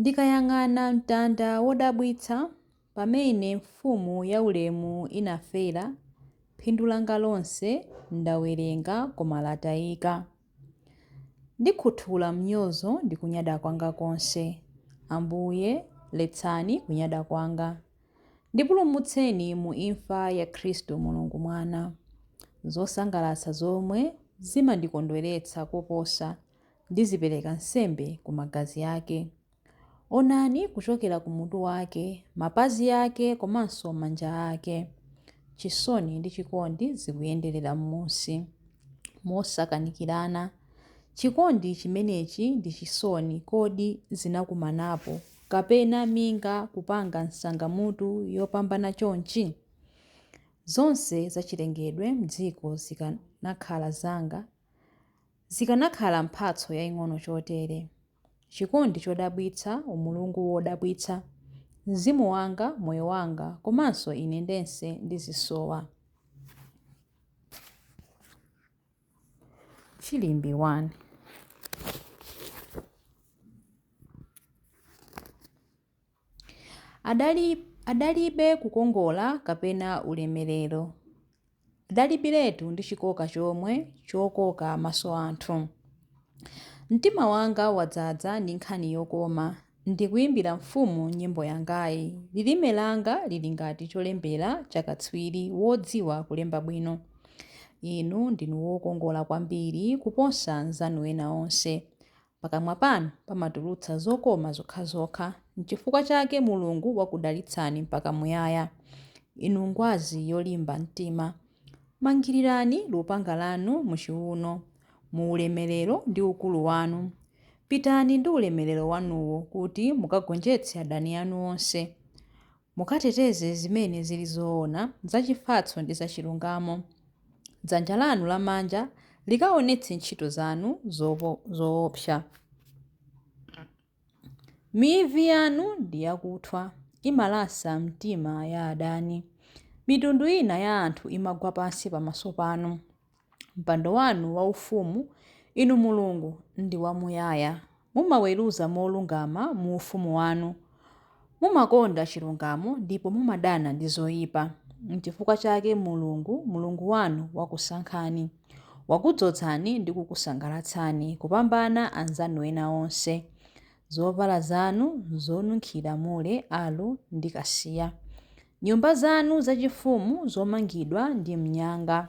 Ndikayang'ana mtanda wodabwitsa, pamene Mfumu yaulemu inafera, phindu langa lonse ndawerenga koma latayika. Ndikhuthula mnyozo ndi kunyada kwanga konse. Ambuye, letsani kunyada kwanga. Ndipulumutseni mu imfa ya Khristu Mulungu Mwana. Zosangalatsa zomwe zimandikondweretsa koposa Ndizipereka nsembe ku magazi ake. Onani kuchokera ku mutu wake, mapazi ake komanso manja ake. Chisoni ndi chikondi zikuyenderera m'munsi mosakanikirana. Chikondi chimenechi ndi chisoni kodi zinakumanapo, kapena minga kupanga nsangamutu yopambana chonchi? Zonse zachilengedwe m'dziko zikanakhala zanga, Zikanakhala mphatso yaing'ono chotere, chikondi chodabwitsa, umulungu wodabwitsa, mzimu wanga, moyo wanga, komanso ine ndense ndizisowa. Chilimbi 1. Adali, adalibe kukongola kapena ulemerero. Adalibiretu ndi chikoka chomwe chokoka maso anthu. Mtima wanga wadzaza ndi nkhani yokoma, ndikuimbira mfumu nyimbo yangayi. Lilime langa lili ngati cholembera cha katswiri wodziwa kulemba bwino. Inu ndinu wokongola kwambiri kuposa anzanu ena onse. Pakamwa panu pamatulutsa zokoma zokhazokha, n'chifukwa chake Mulungu wakudalitsani mpaka muyaya. Inu ngwazi yolimba mtima, mangirirani lupanga lanu muchiuno, mu ulemerero ndi ukulu wanu. Pitani ndi ulemerero wanuwo kuti mukagonjetse adani anu onse. Mukateteze zimene zili zoona, zachifatso ndi zachilungamo. Dzanja lanu lamanja likaonetse ntchito zanu zoopsa. Mivi yanu ndi yakuthwa, imalasa mitima ya adani. Mitundu ina ya anthu imagwa pansi pamaso panu. Mpando wanu waufumu, Inu Mulungu, ndi wamuyaya. Mumaweruza molungama mu ufumu wanu. Mumakonda chilungamo ndipo mumadana ndi zoyipa. N'chifukwa chake Mulungu, Mulungu wanu, wakusankhani. Wakudzozani ndi kukusangalatsani kupambana anzanu ena onse. Zovala zanu zonunkhira mure, aloe, ndi kasiya. Nyumba zanu zachifumu zomangidwa ndi mnyanga.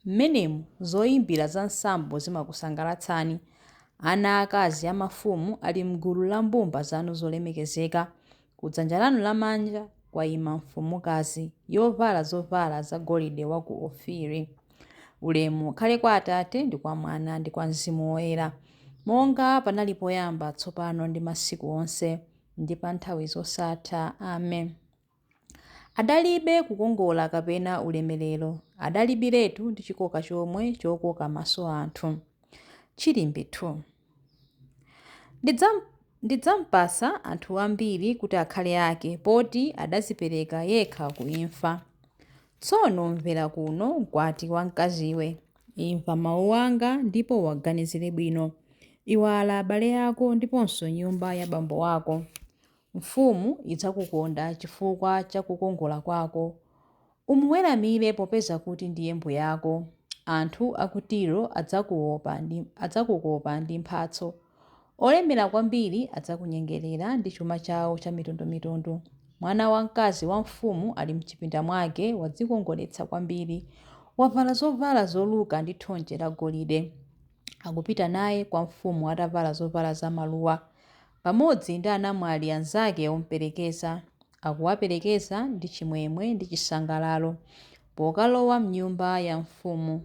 Mmenemu zoimbira za nsambo zimakusangalatsani. Ana aakazi a mafumu ali m'gulu la mbumba zanu zolemekezeka. Kudzanja lanu lamanja kwaima mfumukazi, yovala zovala za golide wa ku Ofiri. Ulemu ukhale kwa Atate ndi kwa Mwana ndi kwa Mzimu Woyera, monga panali poyamba, tsopano ndi masiku onse, ndi pa nthawi zosatha. Amen. Adalibe kukongola kapena ulemerero, adalibiretu ndi chikoka chomwe chokoka maso anthu. Chilimbi 2. Ndidzampatsa anthu ambiri kuti akhale ake, poti adadzipereka yekha ku imfa. Tsono mvera kuno, mkwati wamkaziwe. Imva mau anga ndipo uwaganizire bwino. Iwala abale ako ndiponso nyumba ya bambo wako. Mfumu idzakukonda chifukwa cha kukongola kwako Umuweramire popeza kuti ndiye mbuyako. Anthu a ku Tiro adzakukopa ndi mphatso. Olemera kwambiri adzakunyengerera ndi chuma chawo chamitundumitundu. Mwana wamkazi wa mfumu ali m'chipinda mwake wadzikongoletsa kwambiri. Wavala zovala zoluka ndi thonje lagolide. Akupita naye kwa mfumu atavala zovala zamaluwa, pamodzi ndi anamwali anzake omperekeza. akuwaperekeza ndi chimwemwe ndi chisangalalo pokalowa m'nyumba ya mfumu.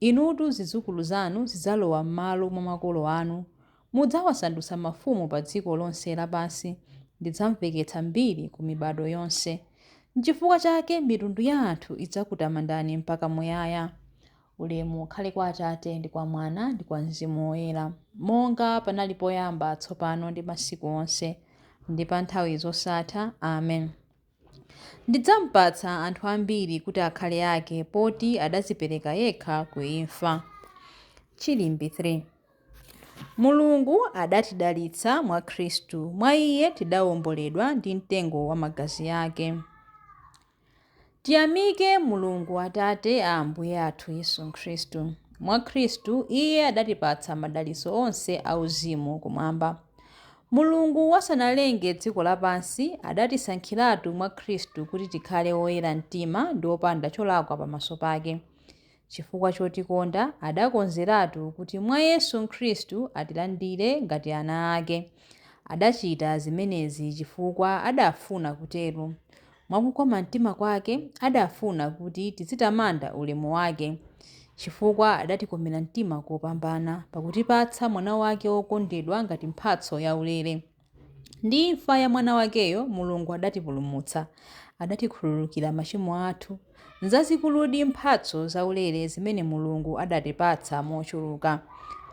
Inutu zidzukulu zanu zidzalowa m'malo mwa makolo anu. Mudzawasandutsa mafumu pa dziko lonse lapansi. Ndidzamveketsa mbiri ku mibado yonse. N'chifukwa chake mitundu ya anthu idzakutamandani mpaka muyaya. Ulemu ukhale kwa Atate, ndi kwa Mwana, ndi kwa Mzimu Woyera, monga panali poyamba, tsopano, ndi masiku onse, ndi pa nthawi zosatha. Amen. Ndidzampatsa anthu ambiri kuti akhale ake, poti adadzipereka yekha ku imfa. Chilimbi 3 Mulungu adatidalitsa mwa Khristu, mwa Iye tidawomboledwa ndi mtengo wa magazi ake. Tiyamike Mulungu Atate a Ambuye athu Yesu Khristu. Mwa Khristu, Iye adatipatsa madalitso onse auzimu kumwamba. Mulungu asanalenge dziko lapansi, adatisankhiratu mwa Khristu kuti tikhale oyera mtima ndi opanda cholakwa pamaso pake. Chifukwa chotikonda, adakonzeratu kuti mwa Yesu Khristu atilandire ngati ana ake. Adachita zimenezi chifukwa adafuna kutero. Mwa kukoma mtima kwake, adafuna kuti tizitamanda ulemu wake. Chifukwa adatikomera mtima kopambana, pakutipatsa Mwana wake wokondedwa ngati mphatso yaulere. Ndi imfa ya Mwana wakeyo, Mulungu adatipulumutsa, adatikhululukira machimo athu. Nzazikuludi mphatso zaulere zimene Mulungu adatipatsa mochuluka.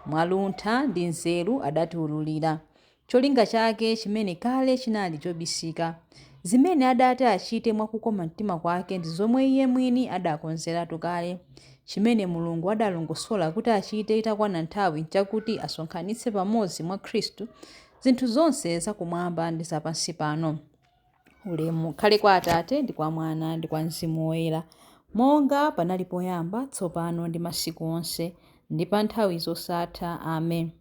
Mwa luntha ndi nzeru adatiwululira cholinga chake chimene kale chinali chobisika. Zimene adati achite mwa kukoma mtima kwake ndi zomwe Iye mwini adakonzeratu kale. Chimene Mulungu adalongosola kuti achite itakwana nthawi chakuti asonkhanitse pamodzi mwa Khristu zinthu zonse zakumwamba ndi zapansipano. Ulemu ukhale kwa Atate, ndi kwa Mwana, ndi kwa Mzimu Woyera, monga panali poyamba, tsopano ndi masiku onse, ndi pa nthawi zosatha. Amen.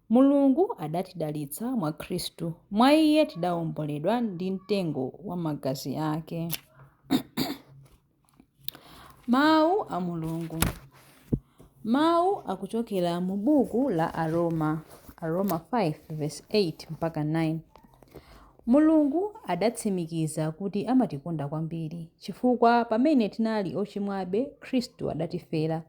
Mulungu adatidalitsa mwa Khristu, mwa Iye tidaomboledwa ndi mtengo wa magazi ake. Mawu a Mulungu Mawu akuchokera mu buku la Aroma, Aroma 5 verse 8 mpaka 9. Mulungu adatsimikiza kuti amatikonda kwambiri chifukwa pamene tinali ochimwabe, Khristu adatifera.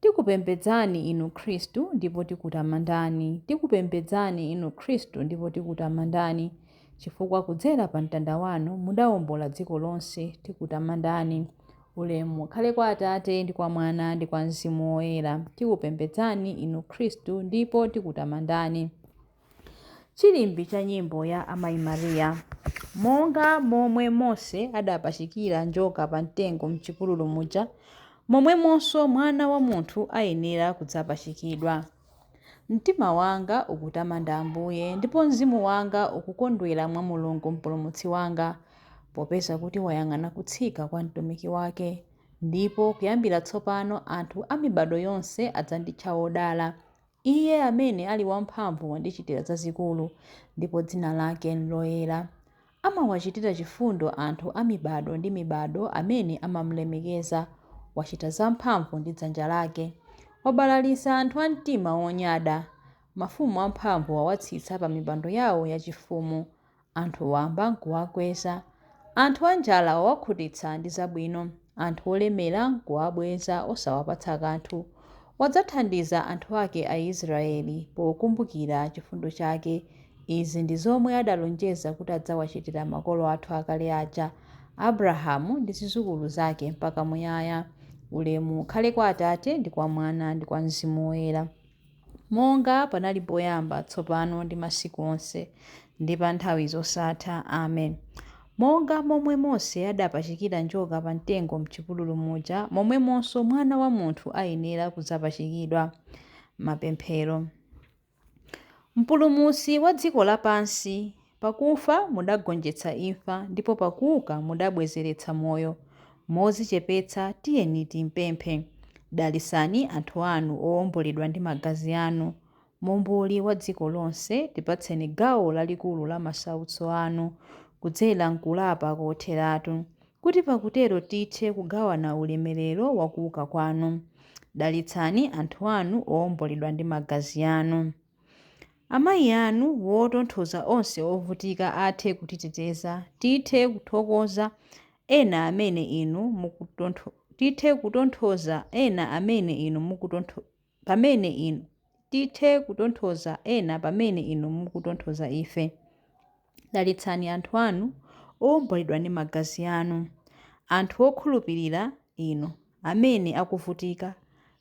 Tikupembedzani Inu Khristu ndipo tikutamandani, tikupembedzani Inu Khristu ndipo tikutamandani, chifukwa kudzera pa mtanda wanu mudawombola dziko lonse, tikutamandani. Ulemu ukhale kwa Atate ndi kwa Mwana ndi kwa Mzimu Woyera. Tikupembedzani Inu Khristu ndipo tikutamandani. Chilimbi cha nyimbo ya Amayi Maria. Monga momwe Mose adapachikira njoka pa mtengo m'chipululu muja, momwemonso Mwana wa Munthu ayenera kudzapachikidwa. Mtima wanga ukutamanda Ambuye, ndipo mzimu wanga ukukondwera mwa Mulungu Mpulumutsi wanga, popeza kuti wayang'ana kutsika kwa mtumiki wake. Ndipo kuyambira tsopano anthu a mibado yonse adzanditcha wodala. Iye amene ali wamphamvu wandichitira zazikulu, ndipo dzina lake n'loyera. Amawachitira chifundo anthu a mibado ndi mibado amene amamulemekeza. Wachita zamphamvu ndi dzanja lake. Wabalalitsa anthu a mtima wonyada. Mafumu amphamvu wawatsitsa pamipando yawo yachifumu. Anthu wamba n'kuwakweza. Anthu anjala wawakhutitsa ndi zabwino. Anthu olemera n'kuwabweza osawapatsa kanthu. Wadzathandiza anthu ake Aisiraeli pokumbukira chifundo chake. Izi ndi zomwe adalonjeza kuti adzawachitira makolo athu akale aja, Abrahamu ndi zidzukulu zake mpaka muyaya. Ulemu ukhale kwa Atate ndi kwa Mwana ndi kwa Mzimu Woyera. Monga panali poyamba, tsopano ndi masiku onse, ndi pa nthawi zosatha. Amen. Monga momwe Mose adapachikira njoka pa mtengo m'chipululu muja, momwemonso Mwana wa Munthu ayenera kudzapachikidwa. Mapemphero. Mpulumutsi wa dziko lapansi, Pakufa mudagonjetsa imfa, ndipo pakuuka mudabwezeretsa moyo. Modzichepetsa tiyeni timpemphe. Dalitsani anthu anu owomboledwa ndi magazi anu. Momboli wa dziko lonse, tipatseni gawo lalikulu la masautso anu kudzera m'kulapa kotheratu, kuti pakutero tithe kugawana ulemerero wa kuuka kwanu. Dalitsani anthu anu owomboledwa ndi magazi anu. Amayi anu wotonthoza onse ovutika athe kutiteteza, tithe kuthokoza ena amene inu, tithe kutonthoza ena amene inu, pamene inu, tithe kutonthoza ena pamene inu mukutonthoza ife. Dalitsani anthu anu owomboledwa ndi Magazi Anu. Anthu okhulupirira Inu, amene akuvutika,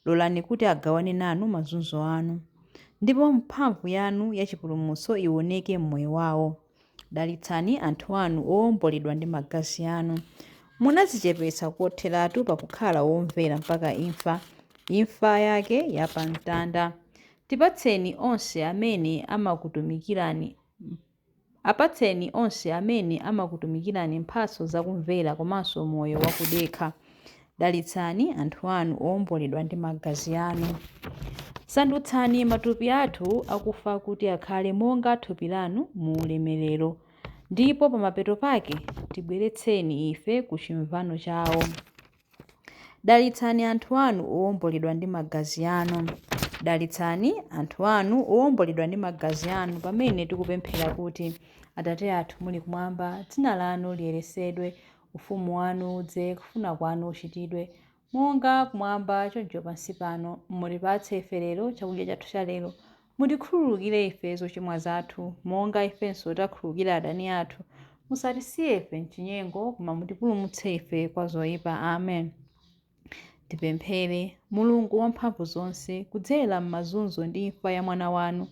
lolani kuti agawane nanu mazunzo anu. Ndipo mphamvu Yanu ya chipulumutso iwoneke mmoyo wawo. Dalitsani anthu Anu owomboledwa ndi Magazi Anu. Munadzichepetsa kotheratu pakukhala womvera mpaka imfa, imfa Yake ya pa Mtanda. Tipatseni onse amene amakutumikirani Apatseni onse amene amakutumikirani mphatso za kumvera komanso moyo wakudekha. Dalitsani anthu anu owomboledwa ndi magazi anu. Sandutsani matupi athu akufa kuti akhale monga thupi lanu mu ulemerero, ndipo pamapeto pake tibweretseni ife ku chimvano chawo. Dalitsani anthu anu owomboledwa ndi magazi anu. Dalitsani anthu anu owomboledwa ndi magazi anu pamene tikupemphera kuti, Atate athu muli kumwamba, dzina lanu liyeretsedwe, ufumu wanu udze, kufuna kwanu kuchitidwe, monga kumwamba choncho pansi pano. Mutipatse ife lero chakudya chathu cha lero. Mutikhululukire ife zochimwa zathu, monga ifenso takhululukira adani athu, Musatisiye ife m'chinyengo, koma mutipulumutse ife kwa zoipa. Amen. Tipemphere. Mulungu wamphamvu zonse, kudzera m'mazunzo ndi imfa ya Mwana wanu,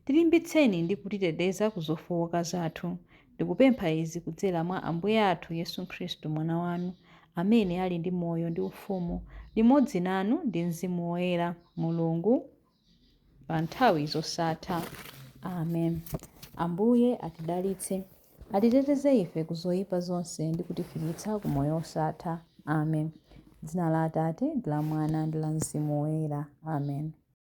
tilimbitseni ndi kutiteteza ku zofooka zathu. Ndikupempha izi kudzera mwa Ambuye athu Yesu Khristu, Mwana wanu, amene ali ndi moyo ndi ufumu, limodzi nanu ndi Mzimu Woyera, Mulungu. pa nthawi zosatha amen ambuye atidalitse atiteteze ife ku zoyipa zonse ndi kutifikitsa ku moyo wosatha amen dzina la atate ndi la mwana ndi la mzimu woyera amen